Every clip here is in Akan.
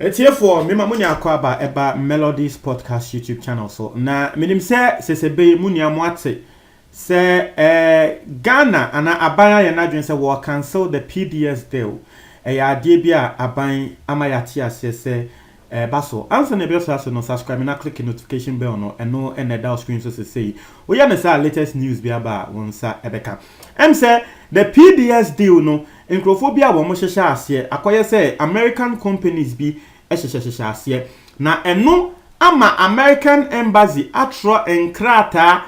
Atiefoɔ, mema mo nya akwaaba ɛba Melodies Podcast YouTube channel so. Na menim sɛ sɛsɛbe yi mo nua mo ate sɛ eh, Ghana anaa aban ayɛ n'adwene sɛ wɔ cancel the PDS deal. Ɛyɛ adeɛ bi a aban ama yɛate aseɛ sɛ Ɛɛba so. Ansa na ɛbɛfiri ase no, subscribe na click notification bell no, ɛno na ɛda wo screen so sesei. Woyɛ no saa a, latest news biara ba a, wo nsa bɛka. Ɛm sɛ the PBS deal no, nkurɔfoɔ bi a wɔn hyehyɛ aseɛ, akɔyɛ sɛ American companies bi hyehyɛ hyehyɛ aseɛ. Na ɛno ama American Embassy atwerɛ nkrataa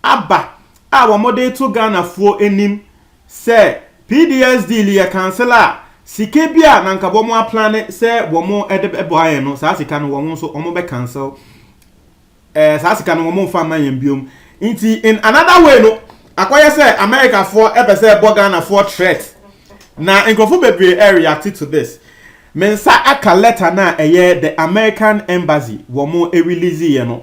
aba a wɔde reto Ghanafoɔ anim sɛ PDS deal yɛ cancel a, sika bi a na anka wɔaplane sɛ wɔde bɛboa yɛn no, saa sika no wɔn nso wɔbɛ cancel eh, saa sika no wɔmfa mma yɛn biom. Nti in another way no, akɔyɛ sɛ Americafoɔ pɛ sɛ ɛbɔ Ghanafoɔ threat. Na nkurɔfo bebree eh, react to this. Me nsa aka letter no a ɛyɛ the American Embassy wɔn release yɛ no.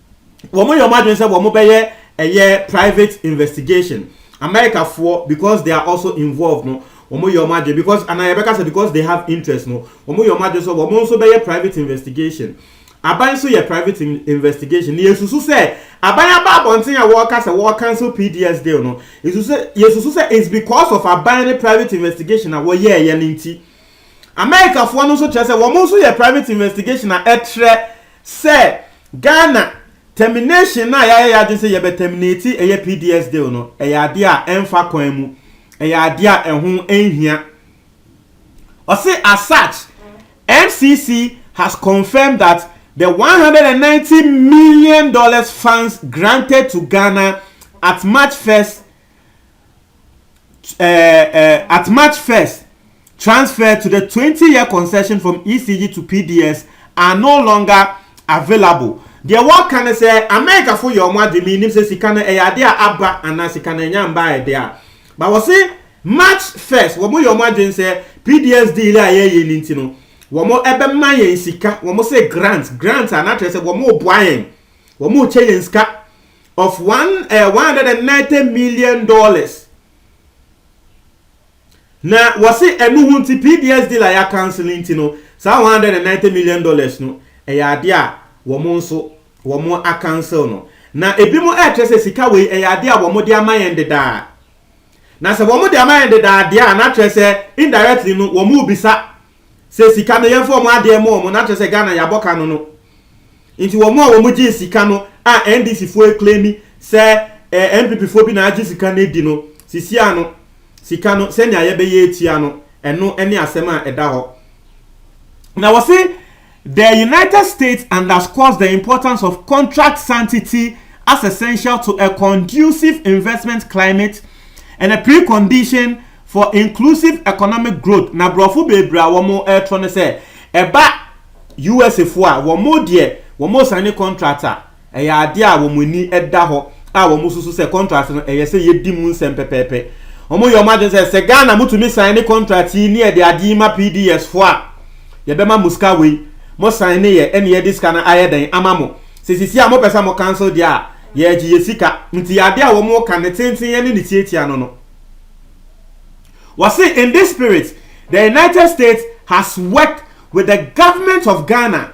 wɔn yɛ wɔn adwene sɛ wɔn bɛyɛ ɛyɛ private investigation america foɔ because they are also involved no wɔn yɛ wɔn adwene because anaa yɛbɛka sɛ because they have interest no wɔn yɛ wɔn adwene sɛ wɔn nso bɛyɛ private investigation aban nso yɛ private investigation na yɛsusu sɛ aban aba abɔnten a wɔreka sɛ wɔreka nso pds deal no yɛsusu sɛ it's because of aban ne private investigation a wɔyɛɛyɛ no nti Amerikafoɔ no nso kyerɛ sɛ wɔn nso yɛ private investigation a ɛtrɛ sɛ Ghana termination no a yɛayɛ yɛn adwene sɛ yɛbɛ terminate ɛyɛ PDS deal no, ɛyɛ adeɛ a ɛmfa kwan mu, ɛyɛ adeɛ a ɛho nhia. Ɔse as such, MCC has confirmed that the $190 million funds granted to Ghana at March 1st uh, uh, at March 1st, transfer to the 20 year concession from ECG to PDS are no longer available. deɛ wɔka no sɛ amerikafo yɛ wɔn adwene menim sɛ sika no ɛyɛ ade a aba anaa sika no ɛnya mba ɛde a ba wɔ se march 1st wɔn yɛ wɔn adwene sɛ pds deal a yɛyɛ no nti no wɔn ɛbɛma yɛn sika wɔn sɛ grant grant a n'akyerɛ sɛ wɔn boa yɛn Wɔn rekyɛ yɛn sika of one eh, one hundred and ninety million dollars. Na wɔsi ɛnu ho nti PDS deal a yɛ akansil nti no saa one hundred and ninety million dollars no ɛyɛ adeɛ a wɔn nso wɔn akansil no. Na ebi mo ɛkyerɛ sɛ sika wei ɛyɛ adeɛ a wɔn de ama yɛn dedaa. Na sɛ wɔn de ama yɛn dedaa deɛ a na kyerɛ sɛ indirectly no wɔn rebisa Sɛ sika no yɛmfa wɔn adeɛ mɔ wɔn na kyerɛ sɛ Ghana yɛabɔ ka no no nti wɔn a wɔn gyee sika no a NDC foɔ ɛclaimi sɛ ɛɛ NPP foɔ bi na agye sika no adi no sisia no sika no sɛnea yɛbɛyɛ atua no ɛno ɛne asɛm a ɛda hɔ na wɔse The United States underscores the importance of contract sanctity as essential to a conducive investment climate and a precondition for inclusive economic growth na borɔfo bebree a wɔn ɛretɔ no sɛ ɛba USA foɔ a wɔn deɛ wɔn sane contract a Ɛyɛ adeɛ a wɔn ani da hɔ a wɔsusu sɛ contract no ɛyɛ sɛ yɛdi mu nsɛm pɛpɛɛpɛ. Wɔyɛ wɔn adwene sɛ sɛ Ghana motumi sign ne contract yi ne yɛde adeɛ yi ma PDS foɔ a, yɛbɛma mo sika wei, mo sign ne yɛ ne yɛde sika no ayɛ dɛn ama mo. Sɛ sisi a mopɛ sɛ mo cancel deɛ a, yɛregye yɛ sika. Nti adeɛ a wɔn reka ne tenteneɛ ne ne tiatia no no, wɔse in this spirit the United States has worked with the government of Ghana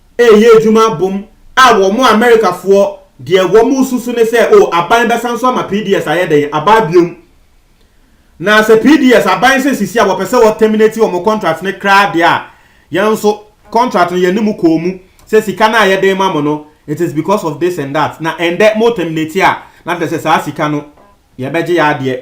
reyɛ adwuma abom a wɔn Amerikafoɔ deɛ wɔn resusu ne sɛ oh aban bɛsan so ama PDS ayɛ dɛn abaa biom na sɛ PDS aban sɛ sisi a wɔpɛ sɛ wɔ terminate wɔn contract ne kraa deɛ a yɛn nso contract no yɛne mu kɔɔ mu sɛ sika no a yɛde ma mo no it is because of this and that na ɛndɛ mo terminate a na kyerɛ sɛ saa sika no yɛbɛgye yɛ adeɛ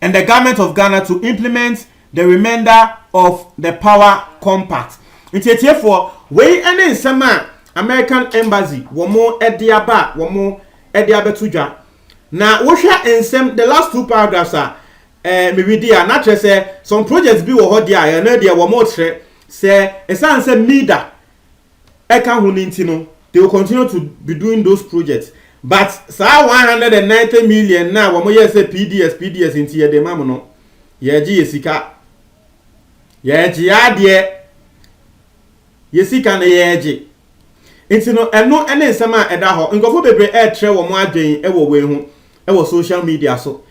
and the government of Ghana to implement the remainder of the power compact. Nti atiefoɔ, wei ne nsɛm a American Embassy wɔn de aba a wɔn de abɛto dwa. Na wohwɛ nsɛm the last two paragraphs a eh, meredi a, na kyerɛ sɛ some projects bi wɔ hɔ deɛ a ɛno deɛ wɔn rekyerɛ sɛ ɛsiane sɛ MIDA ɛka ho no nti no they will continue to be doing those projects but saa 190 million na wɔn yɛ sɛ pds pds nti yɛde ma mo no yɛgye yɛ sika yɛgye adeɛ yɛ sika na yɛgye nti no ɛno ne nsɛm a ɛda hɔ nkurɔfoɔ bebree ɛretrɛ wɔn adwene wɔ wei ho wɔ social media so.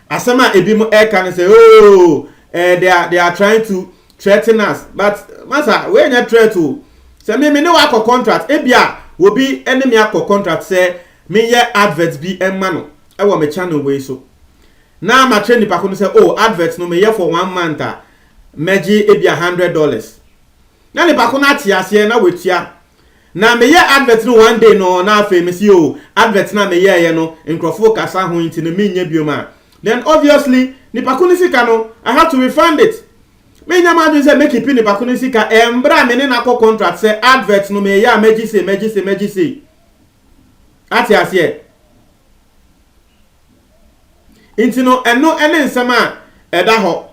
Asɛm a ebinom reka ne sɛ, oh, eh, they, are, they are trying to threaten us. But, masa, wei nyɛ threat o. Sɛ me, me ne wakɔ contract, ebia obi ne me akɔ contract sɛ menyɛ advert bi mma no wɔ me channel wei so. Na makyerɛ nipa ko no sɛ, oh, advert no meyɛ for one month a, mɛgye ebia hundred dollars. Na nipa ko no ate aseɛ na watua. Na me yɛ advert no one day no na afei me se oh advert no a me yɛɛyɛ no nkurɔfo kasa ho nti no menyɛ biom a then obviously nipa ko no sika no I have to refund it Menya m'adwene sɛ mɛkipi nipa ko no sika ɛmbrɛ a me ne no akɔ contract sɛ advert no meyɛ a mɛgye sei mɛgye sei mɛgye sei Ate aseɛ? Nti no ɛno ne nsɛm a ɛda hɔ.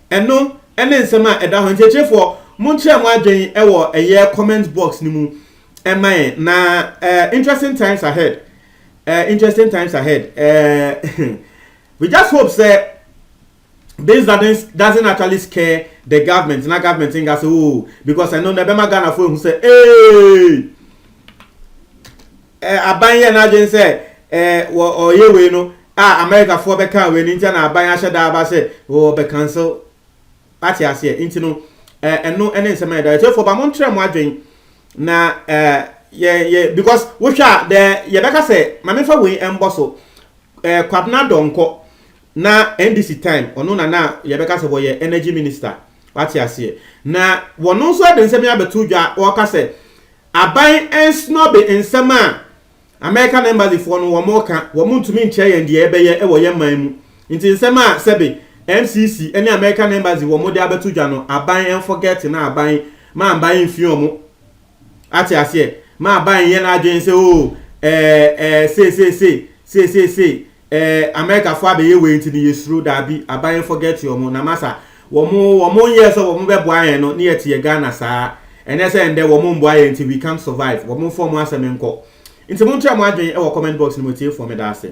Ɛno ne nsɛm a ɛda hɔ. Nti atiefoɔ, monkyerɛ mo adwen wɔ ɛyɛ comment box no mu ma yɛn. Na eh, interesting times ahead. Eh, interesting times ahead. Eh, we just hope sɛ this doesn't, doesn't actually scare the government. Na government nga sɛ, oh, because ɛno na ɛbɛma Ghanafoɔ ehu sɛ, ee. Eh, aban yɛ n'adwene sɛ eh, wɔ ɔyɛ wei no a Amerikafoɔ bɛka wei no nti na aban ahyɛ da aba sɛ wɔ bɛ cancel ate aseɛ nti no eh, ɛno ɛne nsɛm ayɛ da ɛtiefoɔ ba mo ntrɛ mo adwene na eh, yɛ yɛ because wohwɛ a dɛ yɛbɛka sɛ ma mefa wei ɛmbɔ so eh, kwabena dɔnkɔ na ndc time ɔno na na yɛbɛka sɛ wɔyɛ energy minister wate aseɛ na wɔno nso ɛde nsɛm yɛ abɛto dwa wɔka sɛ Aban nsnobe nsɛm a American embassy foɔ no wɔn reka, wɔn ntumi nkyerɛ yɛn deɛ yɛbɛyɛ wɔ yɛn man mu, nti nsɛm a sɛbe MCC ne American embassy wɔn de abɛto dwa no aban nforget na aban ma aban nfi wɔn ate aseɛ, ma aban nyɛ n'adwene sɛ oo ɛɛ ɛɛ sei sei sei sei sei sei Eh America foɔ abɛyɛ wei nti no yɛsuro, daabi aban forget wɔn, na masa wɔn wɔn nyɛɛ sɛ wɔn bɛboa yɛn no ne yɛte yɛ Ghana saa, ɛnyɛ sɛ ɛndɛ wɔn mboa yɛn nti we can't survive, wɔn mfa wɔn asɛm nkɔ, nti monkyerɛ mo adwene wɔ comment box no mu atiefoɔ medaase.